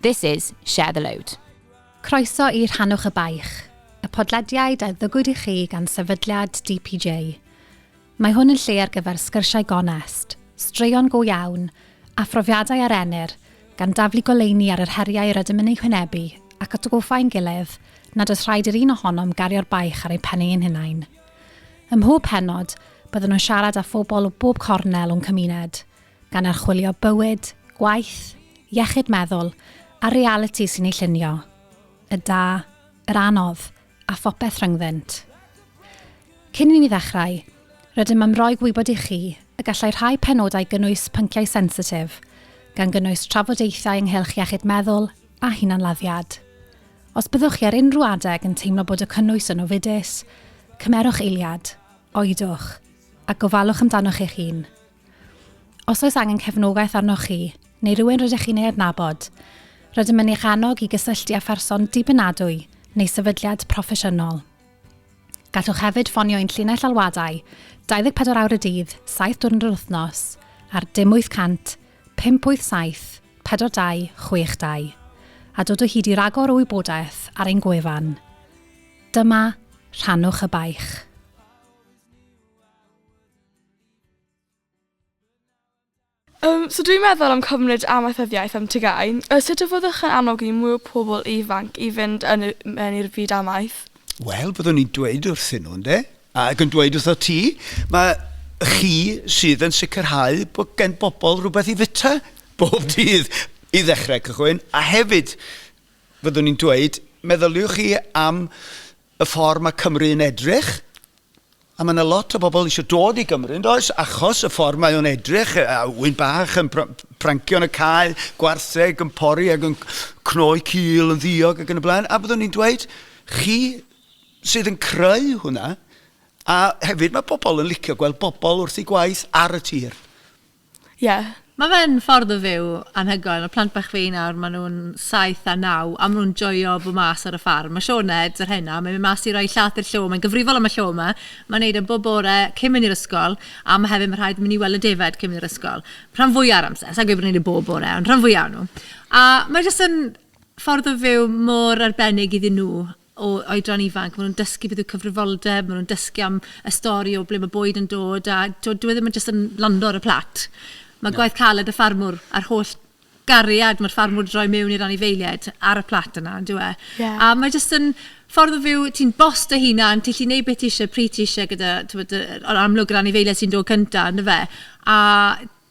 This is Share the Load. Croeso i Rhannwch y Baich, y podlediad a ddygwyd i chi gan Sefydliad DPJ. Mae hwn yn lle ar gyfer sgyrsiau gonest, straeon go iawn, a phrofiadau ar Enir, gan daflu goleuni ar yr heriau yr ydym yn eu hwynebu ac atgoffa ein gilydd nad oes rhaid i'r un ohonom gario'r baich ar ein pen ein hunain. Ym mhob pennod, byddwn yn siarad â phobl o bob cornel o'n cymuned, gan archwilio bywyd, gwaith, iechyd meddwl a'r realiti sy'n ei llunio, y da, yr anodd a phopeth rhyngddynt. Cyn i ni ddechrau, rydym am roi gwybod i chi y gallai rhai penodau gynnwys pynciau sensitif, gan gynnwys trafodaethau ynghylch iechyd meddwl a hunanladdiad. Os byddwch chi ar unrhyw adeg yn teimlo bod y cynnwys yn ofidus, cymerwch eiliad, oedwch, a gofalwch amdanoch eich hun. Os oes angen cefnogaeth arnoch chi, neu rywun rydych chi'n ei adnabod, rydym yn eich annog i gysylltu â pherson dibynadwy neu sefydliad proffesiynol. Gallwch hefyd ffonio ein llinell alwadau 24 awr y dydd, 7 diwrnod yr wythnos ar dim 800 587 4262 a dod o hyd i ragor o wybodaeth ar ein gwefan. Dyma, rhannwch y baich. Yym so dwi'n meddwl am cymryd amaethyddiaeth am TGAU. Yy sut y fyddwch yn annog i mwy o pobl ifanc i fynd yn y, mewn i'r byd amaeth? Wel, byddwn i'n dweud wrthyn nhw, ynde? Ac yn dweud wrtho ti, mae chi sydd yn sicrhau bod gen bobl rhywbeth i fita bob dydd i ddechrau cychwyn. A hefyd, fyddwn i'n dweud, meddyliwch chi am y ffordd mae Cymru yn edrych A mae yna lot o bobl eisiau dod i Gymru, yn does, achos y ffordd mae o'n edrych, a ŵyn bach yn prancio yn y cae, gwartheg yn pori ac yn cnoi cil yn ddiog ac yn y blaen, a byddwn ni'n dweud, chi sydd yn creu hwnna, a hefyd mae pobl yn licio gweld pobl wrth ei gwaith ar y tir. Ie. Mae fe'n ffordd o fyw anhygoel. Mae plant bach fi nawr, maen nhw'n saith a naw a maen nhw'n joio bod mas ar y ffarm. Mae Siôn Ed, yr henau, mae'n mynd mas i roi llaeth i'r llo. Mae'n gyfrifol am y llo yma. Mae'n wneud e bob bore cyn mynd i'r ysgol a ma' hefyd, ma' rhaid mynd i weld y defaid cyn mynd i'r ysgol. Rhan fwya o'r amser. Sa i'n gweud bod e'n wneud e bob bore ond rhan fwya o nhw. A mae jyst yn ffordd o fyw mor arbennig iddyn nhw. o oedran ifanc, ma' nhw'n dysgu beth yw cyfrifoldeb, ma' nhw'n dysgu am y stori o ble ma' bwyd yn dod a t'wod dyw e ddim yn jyst yn lando ar y plat. Ma' gwaith caled y ffarmwr a'r holl gariad ma'r ffarmwr 'di rhoi miwn i'r anifeiliaid ar y plat yna on'd yw e? Ie. A mae jyst yn ffordd o fyw, ti'n boss dy hunan, ti'n gallu neud be' ti isie pryd ti isie gyda t'wod yy yn amlwg yr anifeiliaid sy'n dod cynta on'd yfe? A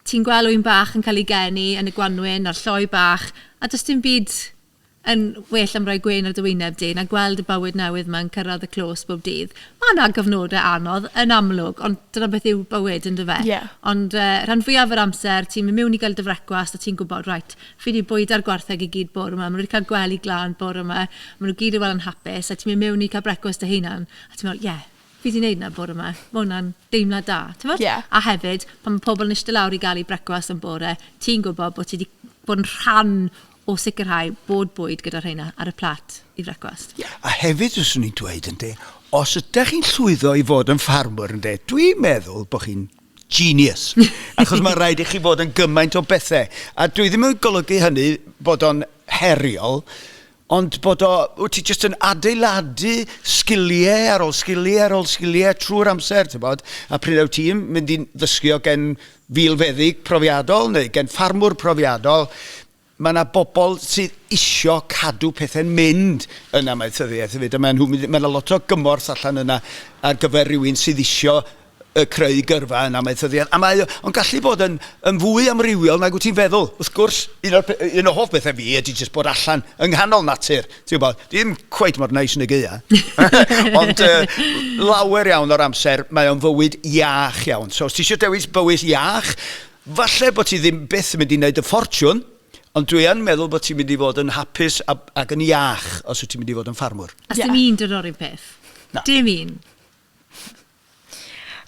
ti'n gwel' ŵyn bach yn cael ei geni yn y gwanwyn a'r lloi bach a does dim byd Yn well am roi gwên ar dy wyneb di na gweld y bywyd newydd ma'n cyrraedd y clos bob dydd. Ma' 'na gyfnodau anodd, yn amlwg, ond dyna beth yw bywyd, yn dyfe? Ie. Ond rhan fwyaf yr amser, ti'n mynd miwn i gael dy frecwast a ti'n gwybod, reit, fi 'di bwyda'r gwartheg i gyd bore 'ma, ma' nhw 'di cael gwely glân bore 'ma, ma' nhw gyd yn wel yn hapus, a ti'n mynd miwn i cael brecwast dy hunan, a ti'n meddwl, ie, fi 'di neud 'na bore 'ma, ma' hwnna'n deimlad da, timod? Ie. A hefyd, pan ma' pobl yn ishte lawr i gael eu brecwast yn bore, ti'n gwybod bod ti 'di bod yn rhan o sicrhau bod bwyd gyda rheina ar y plat i frecwast. Ie, a hefyd fyswn i'n dweud, ynde, os ydych chi'n llwyddo i fod yn ffarmwr, ynde, dwi'n meddwl bod chi'n genius. Achos mae rhaid i chi fod yn gymaint o bethau. A dwi ddim yn golygu hynny bod o'n heriol, ond bod o, wyt ti jyst yn adeiladu sgiliau ar ôl sgiliau ar ôl sgiliau trwy'r amser, ti'n bod, a pryd wyt ti'n mynd i ddysgu o gen filfeddyg profiadol neu gen ffarmwr profiadol, mae yna bobl sydd isio cadw pethau'n mynd yn amaethyddiaeth hefyd, a mae nhw, mae yna lot o gymorth allan yna ar gyfer rhywun sydd isio y creu gyrfa yn amaethyddiaeth. A mae o'n gallu bod yn, yn fwy amrywiol nag wyt ti'n feddwl. Wrth gwrs, un, o'r, un o hoff bethau fi ydy jyst bod allan yng nghanol natur ti'n gwybod, ddim cweit mor neis yn y gaeaf, ond uh, lawer iawn o'r amser mae o'n fywyd iach iawn. So os ti eisiau dewis bywyd iach, falle bod ti ddim byth yn mynd i wneud y ffortiwn, Ond dwi yn meddwl bod ti'n mynd i fod yn hapus ac yn iach os wyt ti'n mynd i fod yn ffarmwr. A yeah. dim un dyn o'r un peth? Na. Dim un.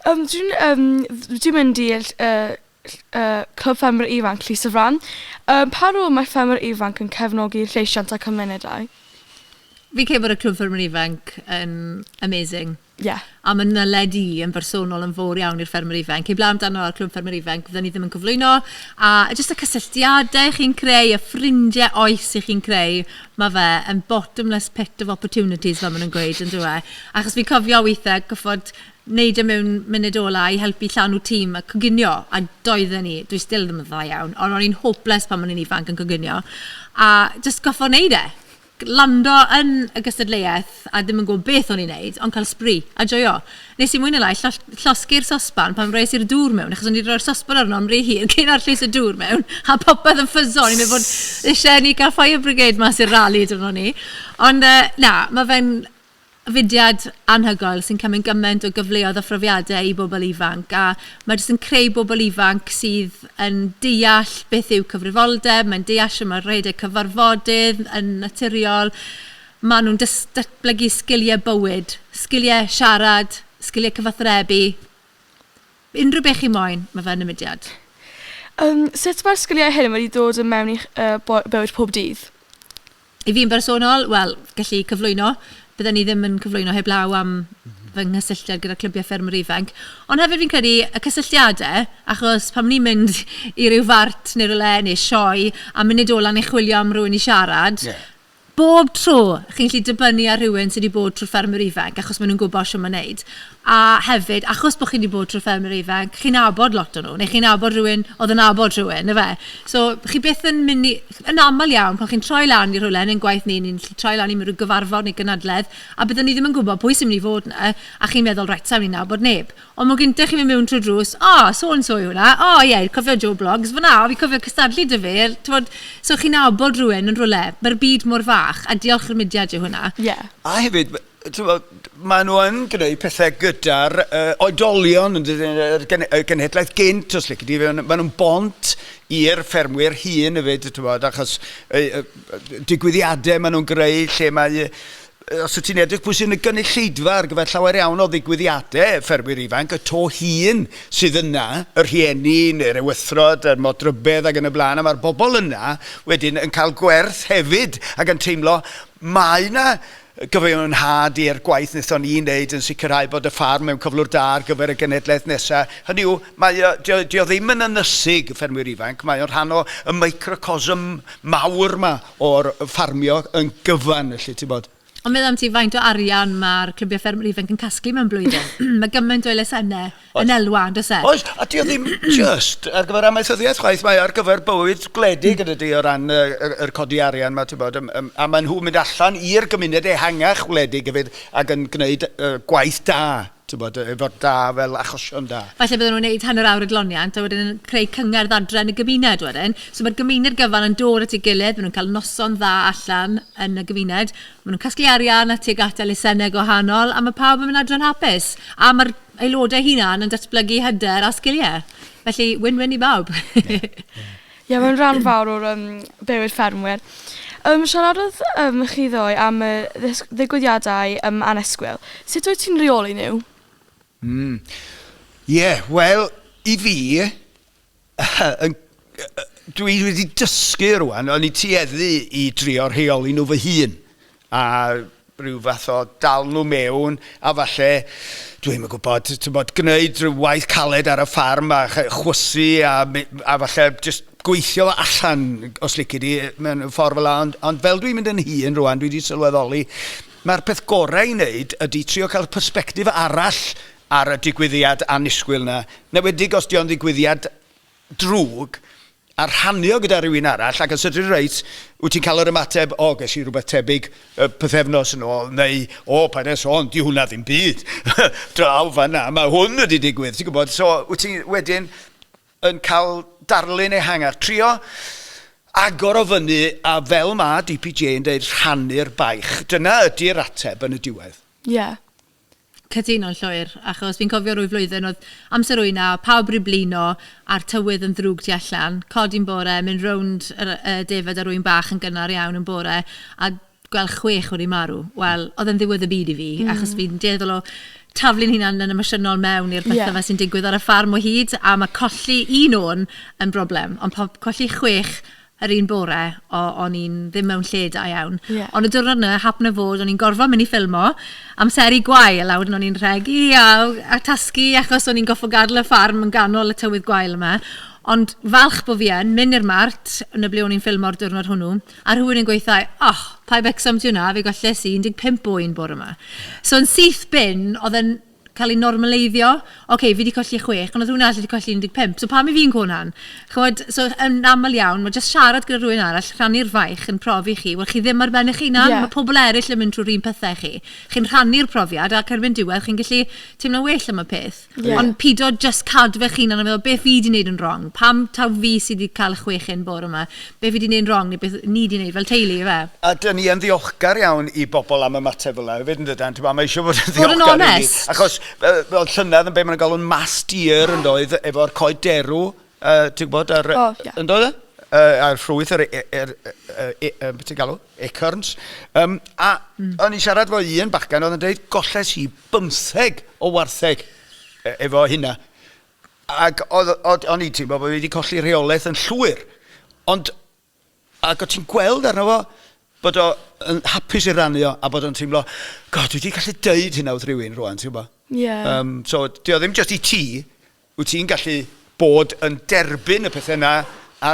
Yym dwi'n yym dd- dwi'n mynd i ll- yy ll- yy Clwb Ffermwyr Ifanc Llys y Fran. Yym pa rôl mae ffermwyr ifanc yn cefnogi lleisiant a cymunedau? Fi'n credu bod y Clwb Ffermwyr Ifanc yn amazing. Ie. A ma' naled i yn bersonol yn fowr iawn i'r ffermwyr ifainc. Heblaw amdano ar Clwb Ffermwyr Ifanc fydden ni ddim yn cyflwyno a jyst y cysylltiadau chi'n creu, y ffrindiau oes 'y chi'n creu. ma fe yn bottomless pit of opportunities fel ma nhw'n gweud yndyw e? Achos fi'n cofio withe gorfod wneud e mewn munud ola i helpu llanw tîm a coginio a doedden ni, dwi still ddim yn dda iawn, ond o'n i'n hopeless pan o'n i'n ifanc yn coginio a jyst gorfod wneud e! Lando yn y gystadleuaeth a ddim yn gwybod beth o'n i'n wneud ond cael sbri a joio. Wnes i mwy neu lai lloll- llosgi'r sosban pan wres i'r dŵr mewn, achos o'n i 'di rhoi'r sosban arno am rhy hir cyn arllwys y dŵr mewn, a popeth yn ffyso. O'n i'n meddwl bod isie i ni gael fire brigade mas i'r rali dyddie 'ny. Ond yy na, mae fe'n fudiad anhygoel sy'n cymryd gymaint o gyfleoedd a phrofiadau i bobl ifanc. A mae jyst yn creu bobl ifanc sydd yn deall beth yw cyfrifoldeb, mae'n deall shwt mae rhedeg cyfarfodydd yn naturiol. Maen nhw'n dys- datblygu sgiliau bywyd, sgiliau siarad, sgiliau cyfathrebu. Unrhyw beth chi moyn, mae fe yn y mudiad. Yym, sut mae'r sgiliau hyn wedi dod yn mewn i'ch bywyd pob dydd? I fi'n bersonol, wel, gallu cyflwyno. Bydden i ddim yn cyflwyno heblaw am fy nghysylltiad gyda Clybiau Ffermwyr Ifanc. Ond hefyd fi'n credu y cysylltiadau, achos pan ni'n mynd i ryw fart neu rywle neu sioe a munud ola ni'n chwilio am rywun i siarad... Ie. Bob tro, chi'n gallu dibynnu ar rhywun sy' 'di bod trwy'r ffermwr ifanc achos maen nhw'n gwybod shwt mae wneud. A hefyd, achos bod chi 'di bod trwy'r ffermwr ifanc, chi'n nabod lot o nhw, neu chi'n nabod rhywun oedd yn nabod rhywun, ife? So, chi byth yn mynd i... yn aml iawn, pan chi'n troi lan i rywle, yn ein gwaith ni, ni'n gallu troi lan i ryw gyfarfod neu gynadledd, a byddwn ni ddim yn gwybod pwy sy'n mynd i fod 'na, a chi'n meddwl, 'reit, sa i'n mynd i nabod neb'. Ond mae gennych chi'n mynd mewn trwy'r drws, O, so and so yw hwnna. O, ie, cofio Joe Bloggs fan'na? O, fi'n cofio cystadlu 'da fe. Timod, so chi'n nabod rhywun yn rywle. Mae'r byd mor fach, a diolch i'r mudiad yw hwnna. Ie. A hefyd, timod, maen nhw yn gwneud pethau gyda'r uh, oedolion, yr gen, y genhedlaeth gynt, os lle di, maen nhw'n bont i'r ffermwyr hun hefyd, timod, achos uh, uh, digwyddiadau maen nhw'n greu lle mae Os wyt ti'n edrych pwy sy'n y gynulleidfa ar gyfer llawer iawn o ddigwyddiadau ffermwyr ifanc, y to hŷn sydd yna, y rhieni neu'r ewythrod, y modrybedd ac yn y blaen, a mae'r bobl yna wedyn yn cael gwerth hefyd ac yn teimlo mae yna gyfiawnhad i'r gwaith wnaethon ni wneud yn sicrhau bod y ffarm mewn cyflwr da ar gyfer y genhedlaeth nesaf. Hynny yw, mae o, dio, dio ddim yn ynysig, y ffermwyr ifanc, mae o'n rhan o y microcosm mawr 'ma. o'r ffarmio yn gyfan felly ti'n bod. Ond meddwl am ti faint o arian mae'r clybiau ffermwyr ifanc yn casglu mewn blwyddyn. Mae gymaint o elusennau yn elwa yn does e? Oes, a dio ddim jyst ar gyfer amaethyddiaeth chwaith, mae ar gyfer bywyd gwledig yn dydy o ran y, y, yr codi arian mae ti'n bod, um, um, a maen nhw'n mynd allan i'r gymuned ehangach wledig hefyd ac yn gwneud uh, gwaith da. Tybed, efo'r da fel achosion da. Falle bydden nhw'n neud hanner awr o gloniant a wedyn yn creu cyngerdd adre yn y gymuned wedyn. So mae'r gymuned gyfan yn dod at ei gilydd, maen nhw'n cael noson dda allan yn y gymuned, maen nhw'n casglu arian a tuag at elusennau gwahanol a mae pawb yn mynd adre'n hapus. A mae'r aelodau eu hunan yn datblygu hyder a sgiliau. Felly, win-win i bawb. Ie, ie. Ie mae'n ran fawr o'r yym bywyd ffermwyr. Yym siaradodd yym chi ddoe am y ddis- ddigwyddiadau yym annisgwyl. Sut wyt ti'n rheoli nhw? Mm. Ie, wel, i fi, yn- dwi wedi dysgu rŵan, o'n i tueddu i drio rheoli nhw fy hun, a rhyw fath o dal nhw mewn a falle, dwi ddim yn gwybod, tibod, gwneud rhyw waith caled ar y ffarm a chwysu a, a falle just gweithio fo allan, os licid i, mewn ffordd fel 'na. Ond, ond fel dwi'n mynd yn hŷn rwan, dwi wedi sylweddoli, mae'r peth gorau i wneud ydy trio cael y persbectif arall ar y digwyddiad annisgwyl 'na, 'newedig os 'di o'n ddigwyddiad drwg, a rhannu o gyda rhywun arall ac os ydy'n reit, wyt ti'n cael yr ymateb 'o, ges i rhywbeth tebyg pythefnos yn ôl' neu 'o, paid â sôn, 'di hwnna ddim byd, draw fan'na mae hwn wedi digwydd', ti'n gwybod, so wyt ti wedyn yn cael darlun ehangach. Trio agor o fyny a fel ma' DPJ yn deud 'rhannu'r baich', dyna ydi'r ateb yn y diwedd. Ie. Cytuno'n llwyr, achos fi'n cofio rwy flwyddyn oedd amser ŵyn a pawb ryw blino a'r tywydd yn ddrwg tu allan, codi'n bore, mynd rownd yr y defaid ar ŵyn bach yn gynnar iawn yn bore a gweld chwech wedi marw, wel, oedd e'n ddiwedd y byd i fi, achos fi'n dueddol o taflu'n hunan yn emosiynol mewn i'r pethe 'ma sy'n digwydd ar y ffarm o hyd, a ma' colli un ŵyn yn broblem, ond po- colli chwech yr un bore o o'n i'n ddim mewn lle da iawn. Ie. Ond y diwrnod 'na happen o fod o'n i'n gorfod mynd i ffilmo amseru gwael a wedyn o'n i'n rhegi a a tasgu achos o'n i'n gorfod gadel y ffarm yn ganol y tywydd gwael yma. Ond falch bo' fi yn mynd i'r mart yn y ble o'n i'n ffilmo'r diwrnod hwnnw a rhywun yn gweutho i o pa Wrecsam ti wnna fe golles i un deg pump o un bore 'ma. So yn syth bin o'dd e'n cael ei normaleiddio. Ocê, fi 'di colli chwech, ond oedd rhywun arall wedi colli 15, so pam 'y fi'n cŵn hon? Chimod, so yn aml iawn, mae jyst siarad gyda rhywun arall, rhannu'r faich yn profi chi. Wel, chi ddim ar ben eich hunan. Ie. Mae pobl eraill yn mynd trwy'r un pethe â chi. Chi'n rhannu'r profiad ac erbyn diwedd chi'n gallu teimlo'n well am y peth. Ie. Ond pido jyst cadw fe'ch hunan a meddwl, 'beth fi 'di wneud yn wrong? Pam taw fi sy 'di cael y chwech hyn bore 'ma? be fi 'di neud yn wrong neu beth ni 'di neud fel teulu ife? A 'dyn ni yn ddiolchgar iawn i bobl am ymateb fel 'na hefyd yndydan? T'bo' mae eisiau fod yn ddiolchgar i ni. Bod yn onest. Achos fel fel llynedd yn be' ma' nhw'n galw'n mass deer yndoedd efo'r coed derw yy ti'n gwybod yr... O ie. ...yndoedd e? Yy a'r ffrwyth yr e- yr yy yy e- yy be' ti'n galw? Acorns. Yym a... Hmm. ...o'n i'n siarad efo un bachgen oedd yn deud golles i bymtheg o wartheg e- efo hynna. Ac oedd, oedd, o'n i'n teimlo bod fi wedi colli rheolaeth yn llwyr. Ond, ac o ti'n gweld arno fo, bod o yn hapus i rannu o, a bod o'n teimlo, God, dwi wedi gallu deud hynna wrth rywun rwan, ti'n gwybod? Ie. Um, so, di o ddim just i ti, wyt ti'n gallu bod yn derbyn y pethau yna, a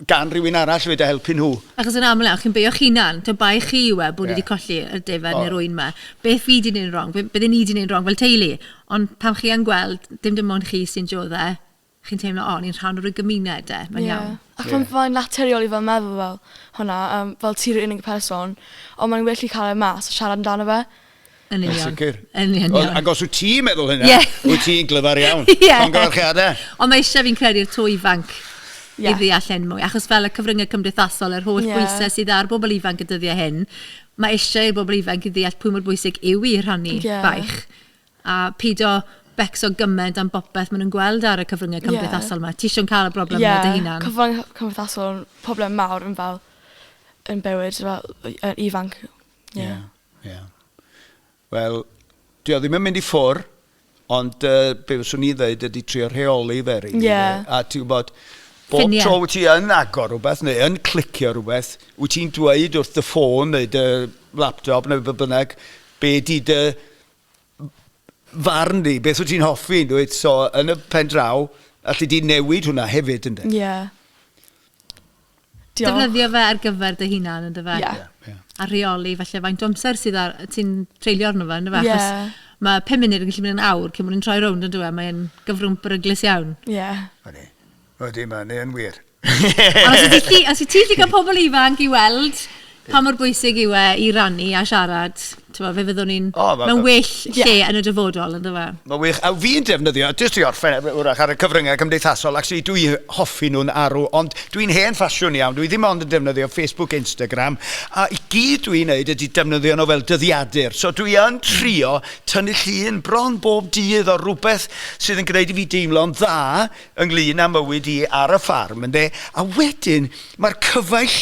gan rywun arall fyd a helpu nhw. Achos yn aml iawn, chi'n beio'ch hunan. Tibod, bai chi yw e bod ni wedi colli yr defaid neu'r ŵyn 'ma. Beth fi 'di neud rong? Beth bydde ni 'di neud rong fel teulu? Ond pan chi yn gweld, dim dim ond chi sy'n diodde', chi'n teimlo, o, ni'n rhan o ryw gymuned 'de, mae'n iawn. Ie. Ac mae'n mae'n naturiol i fel meddwl fel hwnna, yym, fel ti yw'r unig person, ond mae'n well i cael e mas a siarad amdano fe. Yn union. sicr. Yn union. Ac os wyt ti'n meddwl hynna, yeah. wyt ti'n glyfar iawn. yeah. Congyfarchiadau. Ond mae eisiau fi'n credu'r twy ifanc yeah. i ddeall hyn mwy. Achos fel y cyfryngau cymdeithasol, yr holl yeah. bwysau sydd ar bobl ifanc y dyddiau hyn, mae eisiau i'r bobl ifanc i ddeall pwy mor bwysig yw i rhannu yeah. baich. A pidio becso gymaint am bopeth maen nhw'n gweld ar y cyfryngau cymdeithasol yeah. yma. Ti eisiau cael y broblem yeah. yna dy hunan? Ie, cyfryngau cymdeithasol, problem mawr yn fel yn bywyd, fel ifanc. Yeah. yeah. Ie. Wel, dwi o ddim yn mynd i ffwr, ond uh, be fyswn i'n dweud ydy trio rheoli fe, rili. Yeah. A ti'n gwybod, bob Ffinia. tro wyt ti yn agor rhywbeth neu yn clicio rhywbeth, wyt ti'n dweud wrth dy ffôn neu dy laptop neu beth bynnag, be di dy farn di, beth wyt ti'n hoffi, dweud, so yn y pen draw, allu di newid hwnna hefyd, ynddo? Ie. Yeah. Diolch. Defnyddio fe ar gyfer dy hunan yn dyfe? Yeah. Yeah, yeah. A rheoli felly faint o amser sydd ar, ti'n treulio arno fe, yn dyfe? Yeah. Chos mae 5 munud yn gallu mynd yn awr cyn mwyn yn troi rownd yn dywe, mae'n gyfrwng bryglis iawn. Ie. Yeah. Ydy. Ydy, mae'n yn wir. Ond os i ti, os i ti gallu cael pobl ifanc i weld Pa mor bwysig yw e i rannu a siarad? Tibod, fe fyddwn ni'n... O, ma'... mewn well lle yn y dyfodol, yn dyfe? Mae'n wych. A fi'n defnyddio, jyst i orffen e- wrach, ar y cyfryngau cymdeithasol, actually dwi hoffi nhw'n arw, ond dwi'n hen ffasiwn iawn, dwi ddim ond yn defnyddio Facebook, Instagram, a i gyd dwi'n wneud ydy defnyddio nhw fel dyddiadur. So dwi yn trio tynnu llun bron bob dydd o rywbeth sydd yn gwneud i fi deimlo'n dda ynglyn â mywyd i ar y ffarm, ynde? A wedyn, mae'r cyfaill